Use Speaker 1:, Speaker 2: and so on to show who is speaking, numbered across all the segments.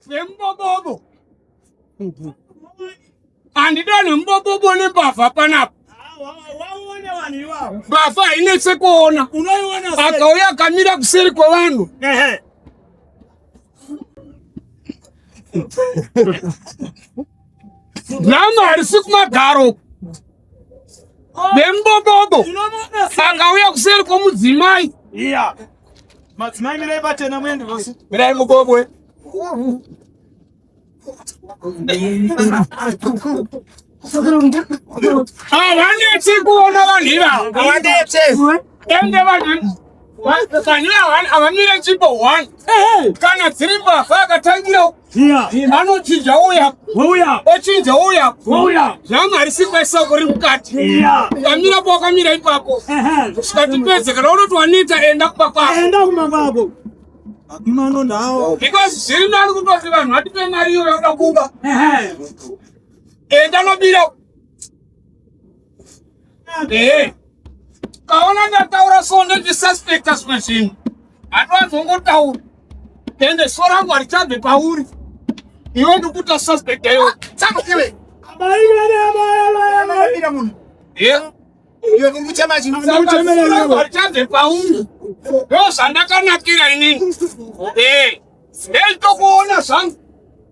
Speaker 1: zvembobobo handidane mubobobo nembavha panapa mbavha hainetse kuona akauya akamira kuseri kwevanhu nama harisi kumagaro nembobobo akauya kuseri kwomudzimai
Speaker 2: madzimai mirai patena muende vose mirai mubobwe
Speaker 1: havanetsi kuona vanhu ivavo
Speaker 2: ende
Speaker 1: vanhu avamire chipo one kana dziri mbavha akatangira
Speaker 2: anochinja
Speaker 1: uya ochinja
Speaker 2: uya
Speaker 1: zvangu
Speaker 2: harisimba
Speaker 1: isoko ri mukati ukamira
Speaker 2: po wakamira
Speaker 1: ipapo zvikatipedze kana unoti waneta enda kumba kwako
Speaker 2: mano ndawo because zviri nani
Speaker 1: kutoti vanhu vatipe mari iyo yauda kuba enda nobira Hey, kaona ndataura so ndozvisuspecta zvimwe zvinhu handiwazongotaura ende so rangu harichabve pauri iwe ndikuta suspect ayo ah, saka iwe
Speaker 2: amai vane amai amai amai mira munhu yeah iwe kuri kuchema chinhu harichabve
Speaker 1: pauri ndozvandakanakira inini eh hey. hey, tokuona zvangu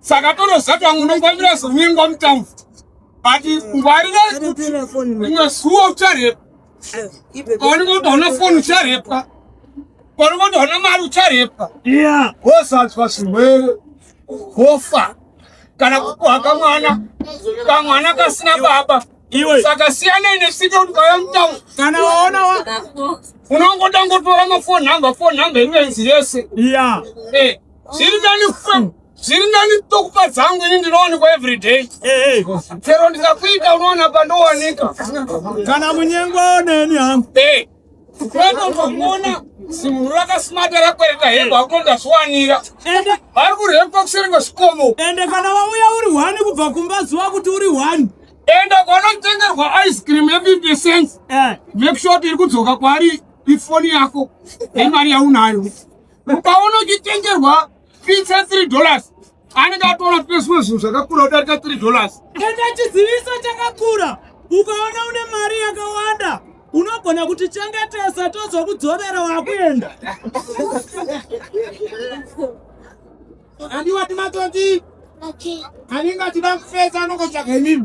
Speaker 1: saka tonozati vamwe unongomira zomingwa mutambo but ngwari vaikuti rimwe zuva ucharepa paunenge kuti hauna foni ucharepa paunenge kuti hauna mari ucharepa
Speaker 2: wozadzwa
Speaker 1: zvirwere wofa kana kupuha kamwana kamwana kasina baba saka
Speaker 2: siyanai
Speaker 1: nesika kuti vaya mutamu kana waona unongoda ngotora mafoni number foni number ivenzi yese eh.
Speaker 2: zviri nani fam
Speaker 1: zviri nani tokupa dzangu ini ndinowanikwa everyday chero ndikakuita unoona pandowanika kana
Speaker 2: munyengwa neni hangu kwatotokuona
Speaker 1: simuru rakasmata rakwereta hembe akuto ndazviwanira vari kurepwa kuseri kwezvikomo ende kana wauya
Speaker 2: uri hwani kubva kumba zuva kuti uri hwani ende
Speaker 1: kwanotengerwa ice cream yefifty cents eh. make sure kuti iri kudzoka kwaari ifoni yako nemari yaunayo ukaona uchitengerwa pizza 3 dollars anenge atoona kuti nezvimwe zvinhu zvakakura kudarika 3 dollars enda chiziviso
Speaker 2: chakakura ukaona une mari yakawanda unogona kuti chengetesa tozokudzorera wakuenda andiwati matonzi anenge achida kufesa anongotsvaga imimi